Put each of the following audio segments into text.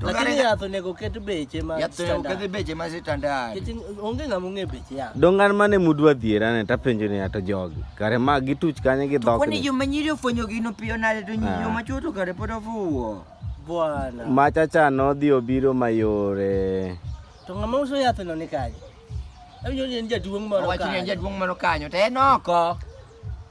To Lakini kare- yath onego ket beche ma yath onego standard. oket beche ma standard. Nikech onge ng'ama ong'e beche yath. Dongan mane mudwa dhier ane tapenjo ni ato jogi. Kare ma gituch kanye gi dhok. Kwani ni. joma nyiri ofwenyo gino piyo nade to Ah. joma chuo to kare pod ofuwo. Bwana. Machacha nodhi obiro mayore. To ng'ama uso yath no ni kanye? Awinjo ni en jaduong' moro Owacho ni en kanye. jaduong' moro kanyo to en oko.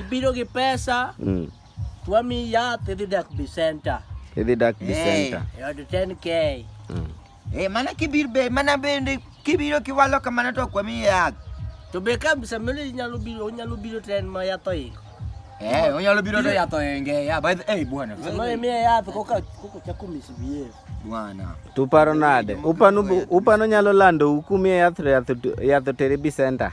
Ibiro gi pesa. Mm. Twami yath idhi dak bi center. Idhi dak bi center. Eh, od 10k. Mm. Eh, mana kibir be, mana bende kibiro kiwalo kamano to kwami yath. To be ka samele inyalo biro, onyalo biro ten ma yath oingo. Eh, onyalo biro to yath oinge. Ya, by the eh bwana. Samele miye yath koka koka chako misbehave. Bwana. Tuparo nade? Upano upano nyalo lando ukumi yath yath yath tere bi center.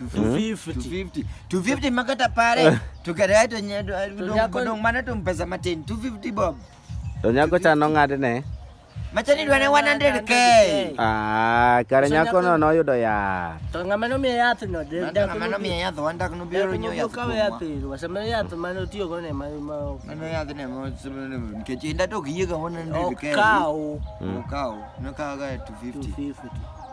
250 250 makata pare tukadai to dong mana tum pesa matin 250 bob to nyako cha no ng'adne machani dwane 100k ah kare nyako no noyudo yath to ng'ama nomiye yath no ng'ama nomiye yath wandak nobiro nyo yath kawe yath iro wasema yath mane otiyo go ne ma mano yath ne mo nikech inda to ok yiega 100k okaw okaw nokawaga 250 250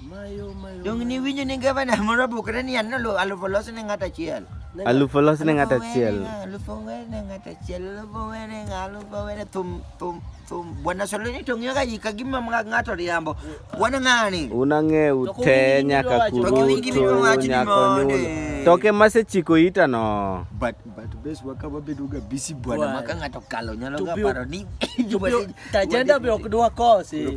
Mayo, mayo. Dong ni winjo ni gavana moro bukre ni an alu- alufu olos ne ng'at achiel. Aluf olos ne ng'at achiel. Alufu owere ne ng'at achiel. Alufu owere ne ng'a- alufu owere thum thum thum. Bwana Soloni to ng'iyo ga ji ka gima mga- ng'ato riambo. Bwana ng'ani. Unang'ew To te kuwinji nyaka gidwa wacho. To kuwinji kurutu gidwa wacho ni nyaka mondo. onyulo. To ke masechiko ita no. But but bes waka wabedo ga busy bwana Bwana. maka ng'ato kalo nyalo To ga be- paro ni To be- tajenda be ok dwa kose